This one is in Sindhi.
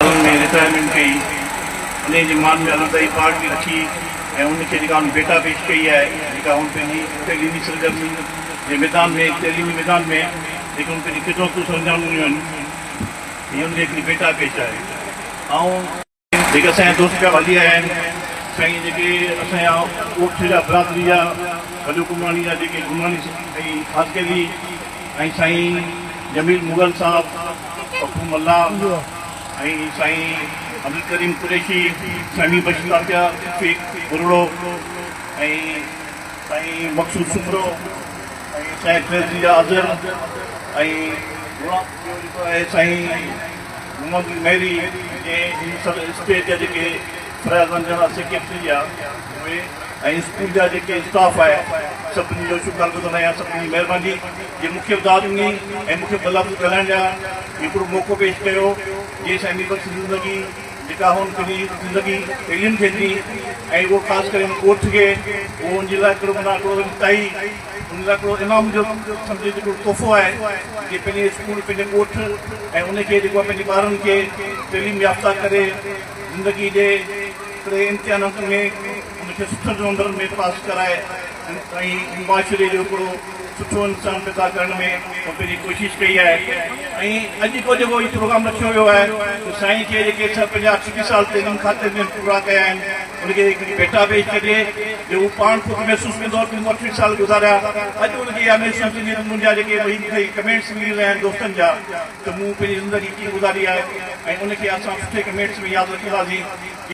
سالن ۾ رٽائرمينٽ ڪئي انهيء جي مان ۾ علمدائي پارٽ به رکي ۽ ان کي جيڪا هن ڀيٽا پيش ڪئي آهي جيڪا هن پنهنجي تعليمي سرگرمين جي ميدان ۾ تعليمي ميدان ۾ جيڪي هن پنهنجي خدمتون سرانجام ڏنيون آهن هي ان جي هڪڙي ڀيٽا پيش آهي آئون جيڪي اسان جا دوست پيا هلي آيا آهن سائين جيڪي اسان جا اوٺ جا برادري جا وڏو گمراڻي جا جيڪي گمراڻي ۽ خاص ڪيلي ۽ سائين جميل مغل صاحب پکو ملاح ۽ سائين عبدالڪريم قريشي سهڻي بخش تاتيا شيخ ٻرڙو ۽ سائين مقصود سپرو ۽ سائين فيض جا اظهر ۽ غلام ٻيو جيڪو آهي سائين محمد مهري جنهن هن سال اسٽيج جا جيڪي فريض انجڻ سيڪريٽري جا اهي ۽ اسڪول جا جيڪي اسٽاف آهي سڀني جو شڪر گذر آهيان سڀني جي مهرباني جي مونکي به داد ڏني ۽ مونکي ٻه لفظ ڳالهائڻ جا هڪڙو موقعو پيش ڪيو جنهن سان اني بخش زندگي جيڪا هن پنهنجي زندگي اهڙين کي ڏني ۽ اهو خاص ڪري هن ڳوٺ کي اهو ان جي لاء هڪڙو منا هڪڙو وڏي تائي ان لاء هڪڙو انعام جو سمجهي هڪڙو تحفو آهي جي پنهنجي اسڪول پنهنجي ڳوٺ ۽ ان کي جيڪو آهي پنهنجي ٻارن کي تعليم يافته ڪري زندگي ڏي. ٽي امتحانن ۾ ان کي سٺن نمبرن ۾ پاس ڪرائي ۽ معاشري جو هڪڙو سٺو انسان پيدا ڪرڻ ۾ پنهنجي ڪوشش ڪئي آهي ۽ اڄ جو جيڪو هي پروگرام رکيو ويو آهي ته سائين کي جيڪي سر پنجاهه اٺٽيهه سال تعليم کاتي ۾ پورا ڪيا آهن ان کي هڪڙي ڀيٽا پيش ڪجي جو هو پاڻ خود محسوس ڪندو ته مون اٺٽيهه سال گذاريا اڄ ان کي اها محسوس ٿيندي ته منهنجا جيڪي ٻئي مون کي ڪمينٽس ملي رهيا آهن دوستن جا ته مون پنهنجي زندگي ڪيئن گذاري آهي ۽ ان کي اسان سٺي ڪمينٽس ۾ ياد رکنداسين.